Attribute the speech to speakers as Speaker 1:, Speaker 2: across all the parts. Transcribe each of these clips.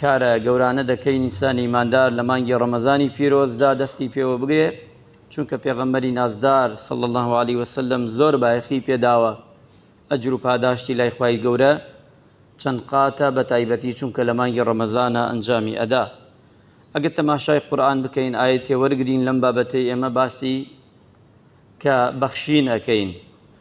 Speaker 1: کارە گەورانە دەکەین ئینسانی ئیماندار لە مانگی ڕەمەزانی پیرۆزدا دەستی پێوە بگرێ چونکە پێغەمبەری نازدار صلی الله علیه وسلم زۆر بایەخی پێداوە ئەجر و پاداشتی لای خوای گەورە چەند قاتە بە تایبەتی چونکە لە مانگی ڕەمەزانە ئەنجامی ئەدا ئەگەر تەماشای قورآن بکەین ئاەتێ وەرگین لەم بابەتەی ئێمە باسی کە بەخشین ئەەکەین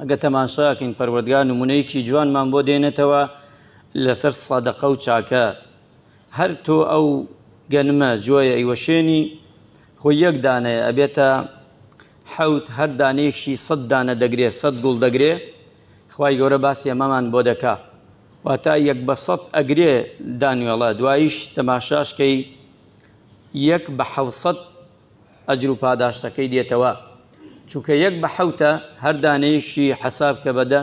Speaker 1: ئەگەر تەماشاکەین پەروەردگار نمونەیەکی جوانمان بۆ دێنێتەوە لەسەر سەدەقە و چاکە هەر تۆ ئەو گەنمە جۆیە ئیوەشێنی خۆ یەک دانەیە ئەبێتە حەوت هەر دانەیەکشی سەد دانە دەگرێ سەد گوڵ دەگرێ خی گەورە باسی ئەمەمان بۆ دەکا واتا یەک بە سەد ئەگرێ دانوێڵە دوایش تەماشاشکەی یەک بە حەوسەد ئەجرو پاداشتەکەی دێتەوە چونکە یەک بە حەوتە هەر دانەیەکشی حەساب کە بە دە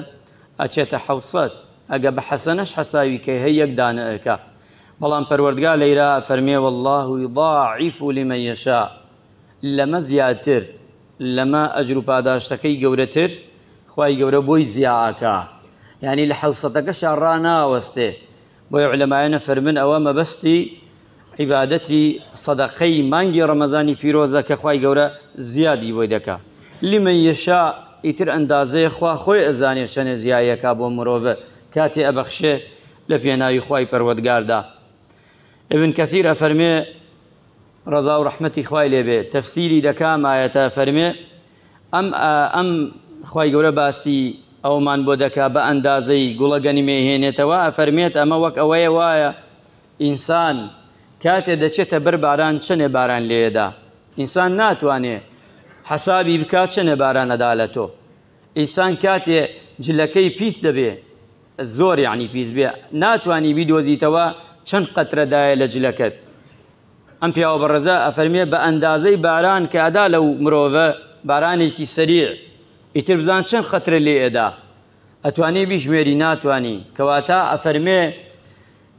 Speaker 1: ئەچێتە حەوت سەد ئەگە بە حەسەنەش حەساوی کەی هەی یەک دانە ئەکا بەڵام پەروەردگا لەیرا ئەفەرمێ واللە یضاعف لمن یشاء لەمە زیاتر لەمە ئەجرو پاداشتەکەی گەورەتر خوای گەورە بۆی زیا ئەکا یانی لە حەوسەتەکەشا ڕاناوەستێ بۆیە علەمایان ئەفەرمن ئەوە مەبەستی عیبادەتی سەدەقەی مانگی ڕەمەزانی پیرۆزە کە خوای گەورە زیادی بۆی دەکا لمن یەشا ئیتر ئەندازەیە خوا خۆی ئەزانێ چەنێ زیایەکە بۆ مرۆڤە کاتێ ئەبەخشێ لە پێناوی خوای پەروەردگاردا ابن کەثیر ئەفەرمێ ڕەزا و ڕەحمەتی خوای لێبێ تەفسیری دەکا مایەتە فەرمێ ئەم ئەم خوای گەورە باسی ئەومان بۆ دەکا بە ئەندازەی گوڵە گەنمێ هێنێتەوە ئەفەرمێت ئەمە وەک ئەوەیە وایە ئینسان کاتێ دەچێتە بەر باران چەنێ باران لێدا ئینسان ناتوانێ حەسابی بکا چەنێ باران ئەدا لە تۆ ئینسان کاتێ جلەکەی پیس دەبێ زۆر یعنی پیس بێ ناتوانانی بیدۆزیتەوە چەند قەترەدایە لە جلەکەت ئەم پیاوە بەڕێزە ئەفەرمێ بە ئەندازەی باران کە ئەدا لەو مرۆڤە بارانێکی سەریع ئیتر بزان چەند قەترە لێ ئەدا ئەتوانی بیژمێری ناتوانی کەواتە ئەفەرمێ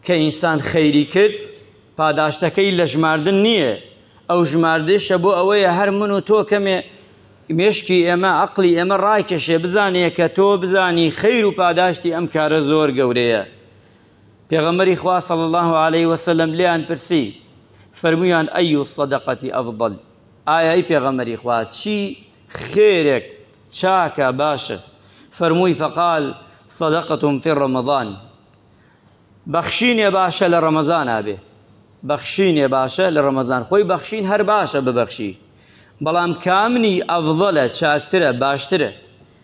Speaker 1: کە ئینسان خەیری کرد پاداشتەکەی لە ژماردن نییە ئەو ژماردەشە بۆ ئەوەیە هەر من و تۆ کەمێ مێشکی ئێمە عقلی ئێمە ڕایکێشێ بزانێ کە تۆ بزانی خەیر و پاداشتی ئەم کارە زۆر گەورەیە پێغەمبەری خوا صلی الله علیه و سلم لێیان پرسی فەرمویان ئەی الصدقەتی افضل ئایا ای پێغەمبەری خوا چی خێرێک چاکە باشە فەرمووی فقال صدقتم في رمضان بەخشینێ باشە لە ڕەمەزان ئابێ بەخشینێ باشە لە ڕەمەزان خۆی بەخشین هەر باشە ببەخشی بەڵام کامنی ئەڤڵە چاکترە باشترە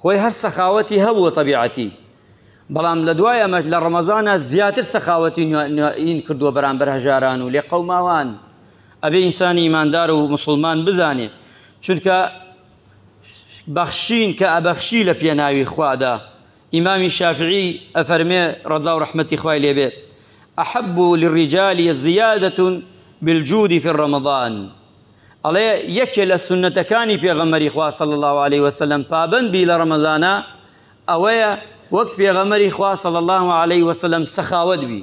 Speaker 1: خۆی هەر سەخاوەتی هەبووە تەبیعەتی بەڵام لە دوای ئەمەش لە ڕەمەزانە زیاتر سەخاوەتی نوێین کردووە بەرامبەر هەژاران و لێ قەوماوان ئەبێ ئینسانی ئیماندار و مسلمان بزانێ چونکە بەخشین کە ئەبەخشی لە پێناوی خوادا ئیمامی شافعی ئەفەرمێ ڕەزا و ڕحمەتی خوای لێبێ ئەحب للرجال زیادة بالجود في رمضان ئەڵێ یەکێ لە سونەتەکانی پێغەمەری خوا صلی الله علیه وسلم پابەند بی لە ڕەمەزانە ئەوەیە وەک پێغەمەری خوا صلی الله علیه وسلم سەخاوت بی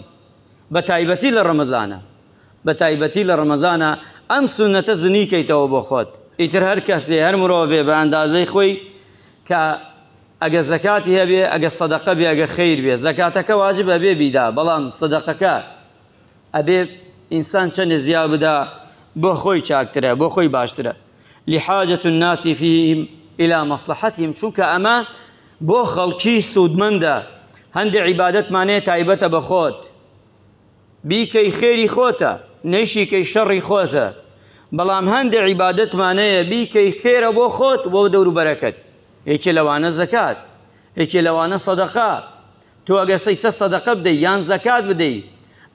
Speaker 1: بە تایبەتی لە ڕەمەزانە بە تایبەتی لە ڕەمەزانە ئەم سونەتە زنی کەیتەوە بۆ خۆت ئیتر هەر کەسێ هەر مرۆڤێ بە ئەندازەی خۆی کە ئەگە زەکاتی هەبێ ئەگە سەدەقە بێ ئەگە خیر بێ زەکاتەکە واجب هەبێ بیدا بەڵام سەدەقەکە ئەبێ ئینسان چەندێ زیا بدا بۆ خۆی چاکترە بۆ خۆی باشترە لحاجة الناس فيهم إلى مصلحتهم چونکە ئەمە بۆ خەڵکی سوودمەندە هەندێک عیبادەتمانەیە تایبەتە بە خۆت بیکەی خێری خۆتە نەیشیکەی شەڕی خۆتە بەڵام هەندێک عیبادەتمانەیە بیکەی خێرە بۆ خۆت بۆ دەوروبەرەکەت یەکێ لەوانە زەکات یەکێ لەوانە سەدەقە تۆ ئەگەر سەیسە سەدەقە بدەی یان زەکات بدەی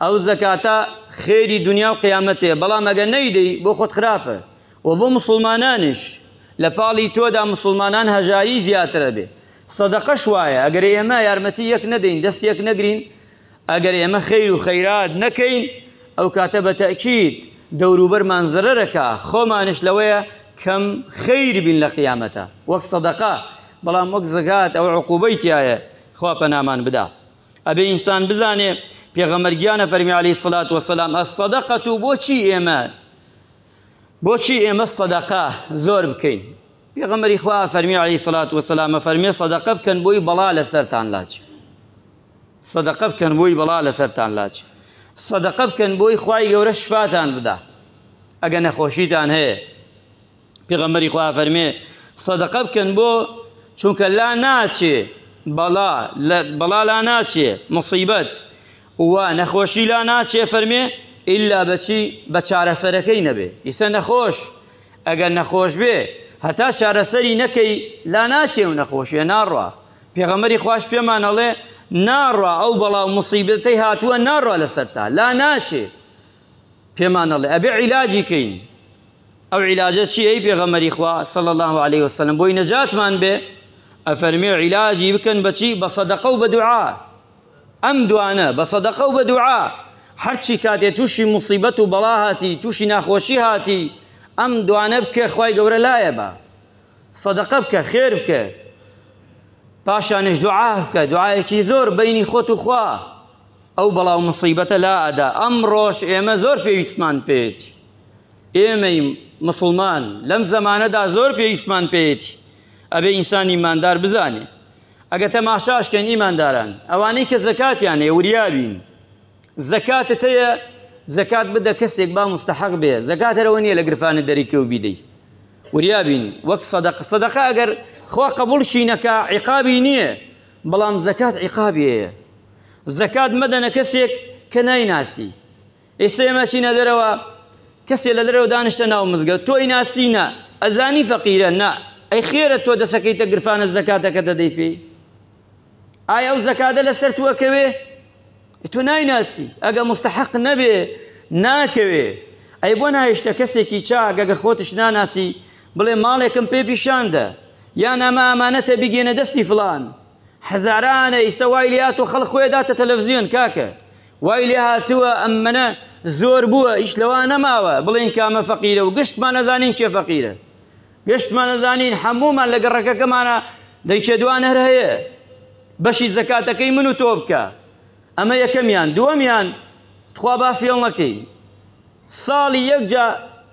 Speaker 1: ئەو زەکاتە خێری دنیا و قیامەتێ بەڵام ئەگە نەیدەی بۆ خۆت خراپە و بۆ مسلمانانیش لە پاڵی تۆدا مسلمانان هەژاری زیاترە بێ سەدەقەش وایە ئەگەر ئێمە یارمەتی یەک نەدەین دەست یەک نەگرین ئەگەر ئێمە خیر و خەیرات نەکەین ئەو کاتە بە تەکیید دەوروبەرمان زەرەرەکە خۆمانش لەوەیە کەم خیر بین لە قیامەتە وەک سەدەقە بەڵام وەک زەکات ئەو عقوبەی تایە خوا پەنامان بدا ئەبێ ئینسان بزانێ پێغەمبەر گیانە فەرمی عەلەیهی سڵات وەسەلام ئەسەدەقەت و بۆچی ئێمە بۆچی ئێمە سەدەقە زۆر بکەین پێغەمبەری خوا فەرمی عەلەیهی سڵات وەسەلامە فەرمێ سەدەقە بکەن بۆی بەڵا لەسەرتان لاچ سەدەقە بکەن بۆی بەڵا لەسەرتان لاچ سەدەقە بکەن بۆی خوای گەورە شفاتان بدا ئەگە نەخۆشیتان هەیە پێغەمبەری خوا فەرمێ سەدەقە بکەن بۆ چونکە لا ناچێ بەڵا بەڵا لا ناچێ مصیبەت و نەخۆشی لا ناچێ فەرمێ ئللا بەچی بە چارەسەرەکەی نەبێ ئیسە نەخۆش ئەگەر نەخۆش بێ هەتا چارەسەری نەکەی لا ناچێ و نەخۆشیە ناڕوا پێغەمەری خوش پێمانەڵێ ناڕوا ئەو بەڵاو مصیبەتەی هاتووە ناڕوا لەسەرتا لا ناچێ پێمان ئەڵێ ئەبێ عیلاجی کەین ئەو عیلاجە چی ئەی پێغەمەری خوا صلی الله علیه وسلم بۆی نەجاتمان بێ ئەفەرمێ عیلاجی بکەن بەچی بە صدقە و بە دوعا ئەم دوانە بە صدقە و بە دوعا هەرچی کاتێ تووشی مصیبەت و بەڵا هاتی تووشی ناخۆشی هاتی ئەم دوانە بکە خی گەورە لایە بە صدقە بکە خێر بکە پاشانش دوعا بکە دوعاەکی زۆر بینی خۆت و خوا ئەو بەڵاو موسیبەتە لا ئەدا ئەمڕۆش ئێمە زۆر پێویستمان پێێتی ئێمەی مسلمان لەم زەمانەدا زۆر پێویستمان پێێتی ئەبێ ئینسان ئیماندار بزانێ ئەگە تەماشاشکەن ئیمانداران ئەوانەی کە زەکاتیان هەیە وریابین زەکاتت هەیە زەکات بدە کەسێک با مستحق بێ زەکات هەرەوە نییە لە گرفانە دەریکە و بیدەی وریابین وەک سەدەق سەدەقە ئەگەر خوا قبولشی نەکە عقابی نییە بەڵام زەکات عیقابی هەیە زەکات مەدەنە کەسێک کە نایناسی ئێستا ئێمە چینە دەرەوە کەسێ لە دەرەوە دانیشتە ناو مزگە تۆی ناسی نا ئەزانی فەقیرە نا ئەی خێرە تۆ دەسەکەیتە گرفانە زەکاتەکە دەدەی پێی ئایا ئەو زەکاتە لەسەر توەکەوێ تۆ نایناسی ئەگە مستحق نەبێ ناکەوێ ئەی بۆ نایشتە کەسێکی چاک ئەگە خۆتش ناناسی بڵێ ماڵێکم پێ پیشاندە یا نامە ئامانەتە بگێنە دەستی فلان هەزارانە ئیستا وای لات و خەڵ خۆێ داتە تەلەڤزیۆن کاکە وای لێ هاتووە ئەم منە زۆر بووە ئیش لەوا نەماوە بڵێن کامە فەقیرە و گشتمان نەزانین کێ فەقیرە گشتمان نەزانین هەمومان لە گەڕەکەکەمانە دەیکێ دوان هەر هەیە بەشی زەکاتەکەی من و تۆ بکە ئەمە یەکەمیان دووەمیان تخوا با فێڵ نەکەین ساڵی یەکجا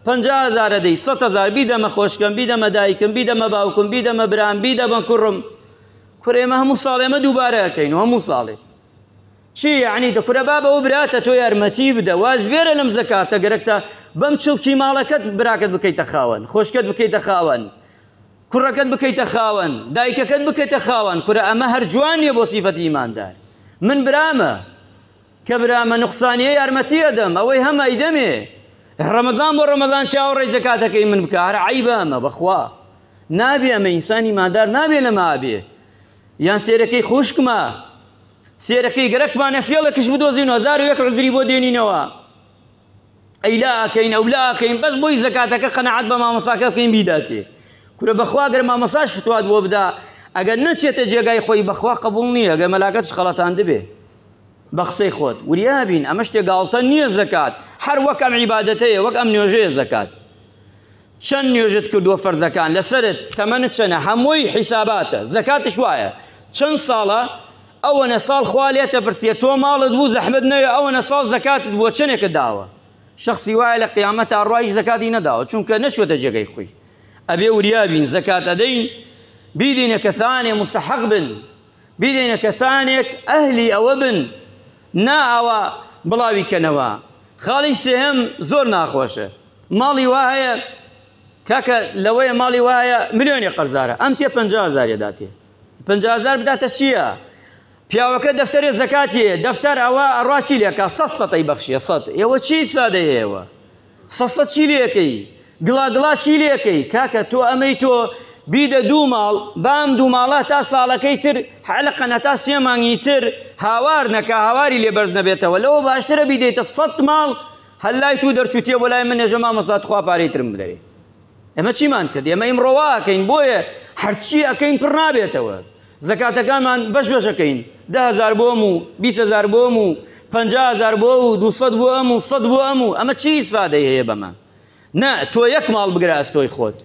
Speaker 1: پەنجا هەزارە دەی سەد هەزار بیدەمە خۆشکەم بیدەمە دایکم بیدەمە باوکم بیدەمە برام بیدەمە کوڕم کورە ئێمە هەموو ساڵ ئێمە دووبارە ئەکەین و هەموو ساڵێ چی یعنی دە کورە بابە و براتە تۆ یارمەتی بدە واز بێرە لەم زەکاتە گەرەکتە بەم چڵکی ماڵەکەت براکەت بکەیتە خاوەن خۆشکەت بکەیتە خاوەن کوڕەکەت بکەیتە خاوەن دایکەکەت بکەیتە خاوەن کورە ئەمە هەر جوان نییە بۆ سیفەتی ئیماندار من برامە کە برامە نقصانیە یارمەتی ئەدەم ئەوەی هەمە ئیدەمێ ڕەمەزان بۆ ڕەمەزان چاوەڕێی زەکاتەکەی من بکە هەر عیبە ئەمە بەخوا نابێ ئەمە ئینسانی مادار نابێ لەمە ئابێ یان سێرەکەی خوشکمە سێرەکەی گەرەکمانە فێڵەکش بدۆزین هەزار و یەک عزری بۆ دێنینەوە ئەیلا ئەکەین ئەولا ئەکەین بەس بۆی زەکاتەکە قەنەعەت بە مامۆستاکە بکەین بیداتێ کورە بەخوا گەر مامۆساش فتوات بۆ بدا ئەگەر نەچێتە جێگای خۆی بەخوا قبول نییە گەر مەلاکەتش خەڵەتان دەبێ بە قسەی خۆت وریابین ئەمە شتێ گاڵتە نییە زەکات هەر وەک ئەم عیباەتەیە وەک ئەم نوێژەیە زەکات چەند نوێژت کردووە فەرزەکان لەسەرت تەمەنت چەنە هەمووی حیساباتە زەکاتش وایە چەند ساڵە ئەوەنە ساڵ خوا لێ تەپرسیە تۆ ماڵت بوو زەحمت نەوێ ئەوەنە ساڵ زەکاتت بووە چەندێکە داوە شخصی وایە لە قیامەت تا ڕایش زەکاتی نەداوە چونکە نەچوەتە جێگەی خۆی ئەبێ وریابین زەکات ئەدەین بیدینە کەسانێ مستحق بن بیدەینە کەسانێک ئەهلی ئەوە بن نا ئاوا بڵاوی کەنەوە خاڵی سێهەم زۆر ناخۆشە ماڵی وا هەیە کاکە لەوەیە ماڵی وایە ملیۆنی قەرزارە ئەم تێ پزارێ داتێ پزار بداتە چییە؟ پیاوەکە دەفتەرێ زەکاتیە دەفتەر ئەوە ئەڕاچی لێکا سە سەی بەخشیە سە ئێوە چی سادەیەوە سەسە چی لێکەی گڵا گڵا چی لێکەی کاکە تۆ ئەمەی تۆ بیدە دوو ماڵ بام دوو ماڵە تا ساڵەکەی تر حەلقەن هەتا سێ مانگی تر هاوار نەکە هاواری لێ بەرز نەبێتەوە لەوە باشترە بیدەیتە سەد ماڵ هەلای تو دەرچوتیە بۆ لای من نێژە مامۆستا تخوا پارەی ترم بدەێ ئەمە چیمان کرد ئێمە ئیم ڕەواکەین بۆیە هەرچی ئەەکەین پڕ نابێتەوە زەکاتەکانمان بەش بەشەکەین دە هەزار بۆ ئەم و بیست هەزار بۆ ئەم و پەنجا هەزار بۆ و دوو سەد بۆ ئەم و سەد بۆ ئەم و ئەمە چی ئیسفادەی هەیە بەمە نا تۆ یەک ماڵ بگرە ئەستۆی خۆت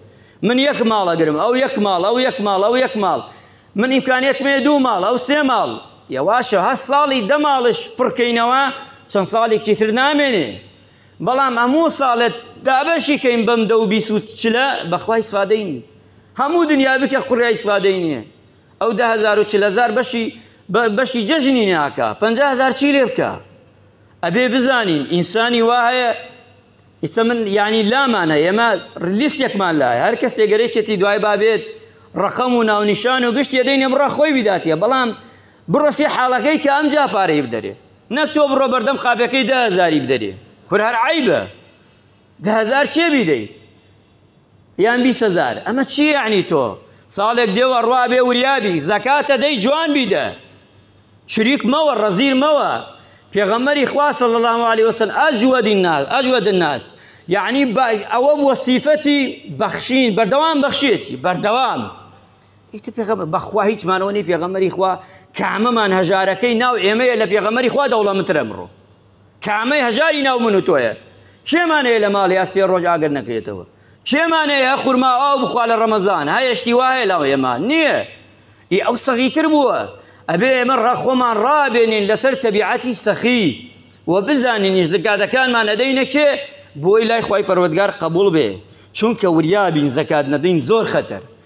Speaker 1: من یەک ماڵ ئەگرم ئەو یەک ماڵ ئەو یەک ماڵ ئەو یەک ماڵ من ئیمکانیەتمێ دوو ماڵ ئەو سێ ماڵ یەواشە هەست ساڵی دە ماڵش پڕکەینەوە چەند ساڵێکی تر نامێنێ بەڵام هەموو ساڵێت دابەشی کەین بەم دە و بیست و چلە بەخوای ئیسفادەی نی هەموو دنیا بکە قڕیا ئیسفادەی نییە ئەو دە هەزار و چل هەزار بەشی بەشی جەژنی ناکە پەنج هەزار چی لێ بکە ئەبێ بزانین ئینسانی وا هەیە ئیسە من یعنی لامانە ئێمە لیستێکمان لایە هەر کەسێ گەرەێتی دوای بابێت ڕقەم و ناونیشان و گشت یەدەی نەبڕە خۆی بداتە بەڵام بڕۆسی حاڵەکەی کە ئەم جا پارەی بدەرێ نەک تۆ بڕۆ بەردەم قاپەکەی دە هەزاری بدەرێ کور هەر عیبە دە هەزار چێ بیدەی یان بیست هەزار ئەمە چی یعنی تۆ ساڵێک دێوە ڕوا بێ وریابی زەکاتە دەی جوان بیدە شریک مەوە ڕەزیر مەوە پێغەمەری خوا صلی الله علیه وسلم اجود الناس اجود الناس یعنی ئەوە بووە سیفەتی بەخشین بەردەوام بەخشێتی بەردەوام ئیتر پێغەمبەر بەخوا هیچ مانەوە نی پێغەمبەری خوا کامەمان هەژارەکەی ناو ئێمەیە لە پێغەمبەری خوا دەوڵەمترە مڕۆ کامەی هەژاری ناو من و تۆیە کێمانەیە لە ماڵ یا سێ ڕۆژ ئاگەر نەکرێتەوە کێمانەیە خورما ئاو بخوا لە ڕەمەزان هەیەشتی وایە لاو ئێمە نییە ئی ئەو سەغیتر بووە ئەبێ ئێمە ڕاخۆمان ڕابێنین لەسەر تەبیعەتی سەخی و بزانینی زکاتەکانمان ئەدەینە کێ بۆی لای خی پەروەگار قبول بێ چونکە وریابین زکات نەدەین زۆر خەتەر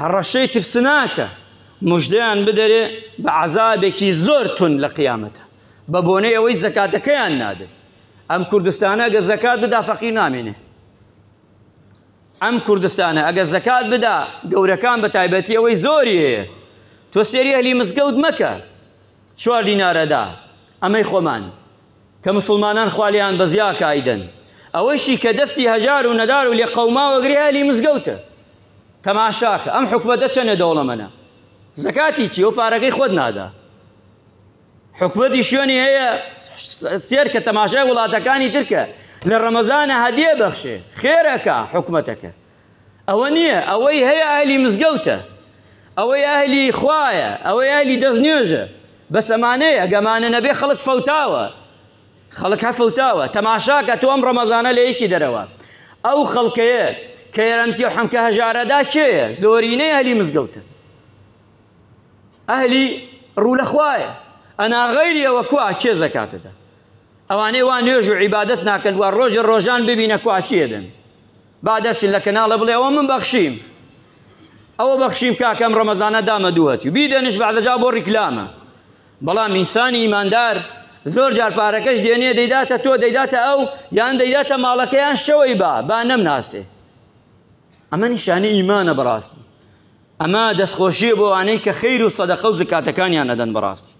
Speaker 1: هەڕەشەی ترسناکە مژدەیان بدەرێ بە عەزابێکی زۆر تون لە قیامەتە بە بۆنەی ئەوەی زەکاتەکەیان نادن ئەم کوردستانە گە زەکات بدا فەقی نامێنێ ئەم کوردستانە ئەگە زەکات بدا گەورەکان بە تایبەتی ئەوەی زۆری هەیە تۆ سێری هەلی مزگەوت مەکە چوار دینارەدا ئەمەی خۆمان کە مسوڵمانان خوا لێیان بەزیا کایدەن ئەوەشی کە دەستی هەژار و نەدار و لێ قەوماوە گرێ هەلی مزگەوتە تەماشاکە ئەم حکومەتە چەنە دەوڵەمەنە زەکاتی چی و پارەکەی خۆت نادا حکومەتی شوێنی هەیە سێر کە تەماشای وڵاتەکانی ترکە لە ڕەمەزانە هەدیە بەخشێ خێرەکە حکومەتەکە ئەوە نییە ئەوەی هەیە ئەهلی مزگەوتە ئەوەی ئەهلی خوایە ئەوەی ئەهلی دەستنوێژە بەس ئەمانەیە گەمانە نەبێ خەڵک فەوتاوە خەڵک هە فەوتاوە تەماشاکە تۆ ئەم ڕەمەزانە لە یەکی دەرەوە ئەو خەڵکەیە کە یارمتی و حەمکە هەژارەدا کێیە زۆرینەی ئەهلی مزگەوتە ئەهلی ڕوو لە خوایە ئەنا غەیریەوە کوا کێ زەکاتەدا ئەوانەی وا نوێژ و عیبادت ناکەن و ڕۆژە ڕۆژان ببینە کواچیەدەن با دەرچن لە کەناڵە بڵێ ئەوە من بەخشیم ئەوە بەخشیم کاکەم ڕەمەزانە دامە دووەتی و بیدەنش بەعدەجا بۆ ڕیکلامە بەڵام ئینسانی ئیماندار زۆر جار پارەکەش دێنێ دەیداتە تۆ دەیداتە ئەو یان دەیداتە ماڵەکەیان شەوەی با با نەمناسێ ئەمە نیشانی ئیمانە بەڕاستی ئەمە دەستخۆشیە بۆ ئەوانەی کە خیر و سەدەقە و زکاتەکانیان ئەدەن بەڕاستی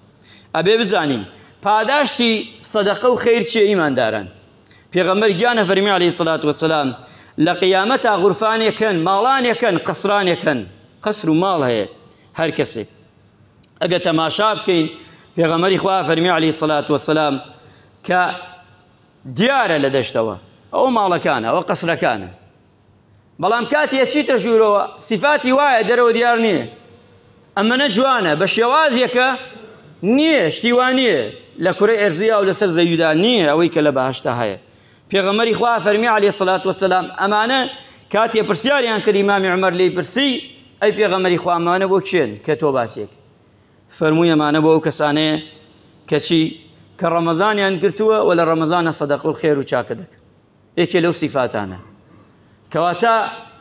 Speaker 1: ئەبێ بزانین پاداشتی سەدەقە و خیر چیە ئیمانداران پێغەمبەر گیانە فەرمی علی سلات وسلام لە قیامەتا غورفانێکن ماڵانێکن قسرانێکن قسر و ماڵ هەیە هەر کەسێک ئەگە تەماشا بکەین پێغەمەری خوا فەرمی علی سلات وسلام کە دیارە لە دەشتەوە ئەو ماڵەکانە ئەوە قسرەکانە بەڵام کاتی ئەچیتە ژوورەوە سیفاتی وایە دەرەوە دیار نییە ئەمەە جوانە بە شێوازێکە نییە شتیوان نییە لە کورە ئەرزیا و لەسەر زەویدا نییە ئەوەی کە لە بەهشتا هەیە پێغەمەری خوا فەرمی عليه سلات وسلام ئەمانە کاتێ پرسیاریان کردی مامی عمر لی پرسی ئەی پێغەمەری خوامانە بۆ چێن کە تۆ باسێک فەرموویەمانە بۆ ئەو کەسانەیە کەچی کە ڕەمەزانیان گرتووە و لە ڕەمەزانە سەدەق و خێر و چاکە دەکەن یەکێ لەو سیفاتانە کەواتە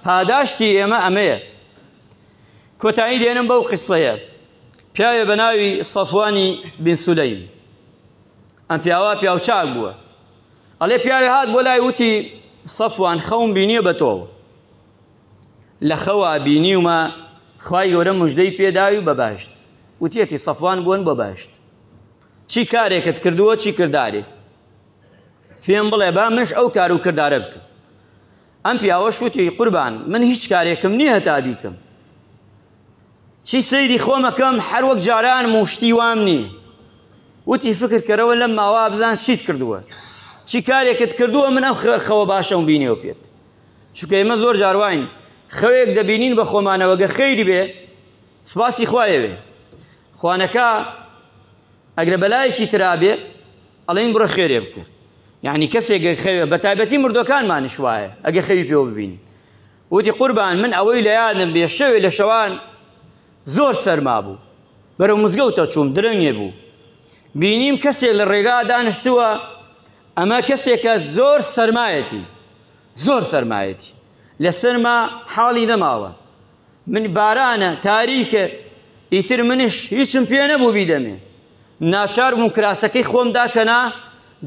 Speaker 1: پاداشتی ئێمە ئەمەیە کۆتایی دێنم بەو قسەیە پیاوێ بە ناوی سەفوانی بن سولەیم ئەم پیاوە پیاوچاک بووە ئەڵێ پیاوێ هات بۆ لای وتی سەفوان خەوم بینیە بە تۆ لە خەوا بینیومە خی گەورە مژدەی پێداوی بە باشت وتیەتی سەفوان بوون بە باشت چی کارێکت کردووە چی کردارێ پێم بڵێ با منش ئەو کار و کردارە بکەم ئەم پیاوە شوتی قوربان من هیچ کارێکم نییە هەتا بیکەم چی سەیری خۆمەکەم هەر وەک جاران موشتی وام نییە وتی فکرکەرەوە لەم ماوا بزان چیت کردووە چی کارێکت کردووە من ئەم خەوە باشەم بینێو پێت چکە ئێمە زۆر جارواین خەوێک دەبینین بە خۆمانەوەگە خەیری بێ سپاسی خوایەوێ خوانەکە ئەگرە بەلایەکی ترابێ ئەڵێن بڕۆ خێرێ بکە یعنی کەسێک گەر خەوێ بە تایبەتی مردوەکانمانش وایە ئەگە خەوی پێوە ببین وتی قوربان من ئەوەی لە یادم بێ شەوێ لە شەوان زۆر سەرما بوو بەرەو مزگەوتە چووم درەنگێ بوو بینیم کەسێک لە ڕێگا دانیشتووە ئەمە کەسێکە زۆر سەرمایەتی زۆر سەرمایەتی لە سەرما حاڵی نەماوە من بارانە، تاریکە، ئیتر منیش هیچم پێ نەبوو بیدەمێ. ناچار بووم کراسەکەی خۆم داکەنا،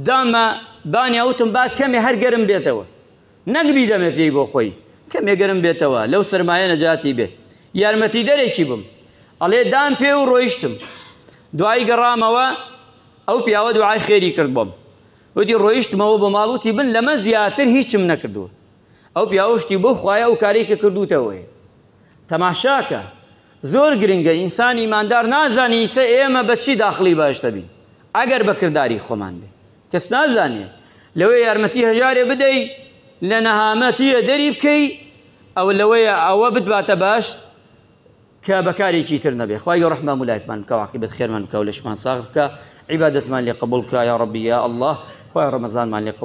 Speaker 1: دامە بانیا وتم با کەمێ هەر گەرم بێتەوە. نەک بیدەمێ پێی بۆ خۆی، کەمێ گەرم بێتەوە، لەو سەرمایە نەجاتی بێ. یارمەتیدەرێکی بم. ئەڵێ دام پێ و ڕۆیشتم. دوایی گەڕامەوە، ئەو پیاوە دوعای خێری کرد بۆم. وتی ڕۆیشتمەوە بۆ ماڵ وتی بن لەمە زیاتر هیچم نەکردووە. ئەو پیاوە شتی بەو خوایە ئەو کارەی کە کردووتەوەی تەماشاکە زۆر گرنگە ئینسان ئیماندار نازانی ئیسە ئێمە بە چی داخڵی باشتە بین ئەگەر بە کردداری خۆمان بێ کەس نازانێ لەوەی یارمەتی هەژارێ بدەی لە نەهامەتیە دەری بکەی ئەو لەوەیە ئەوە بتباتە باش کە بەکارێکی تر نەبێ خخوای گە ڕحمان ملایتمان کەواقی بەت خێرمان کەولشمان ساغ بکە عیباەتمان لێ قبول کە یا ڕبیە الله خخوای ڕەمەزانمان لێ قبول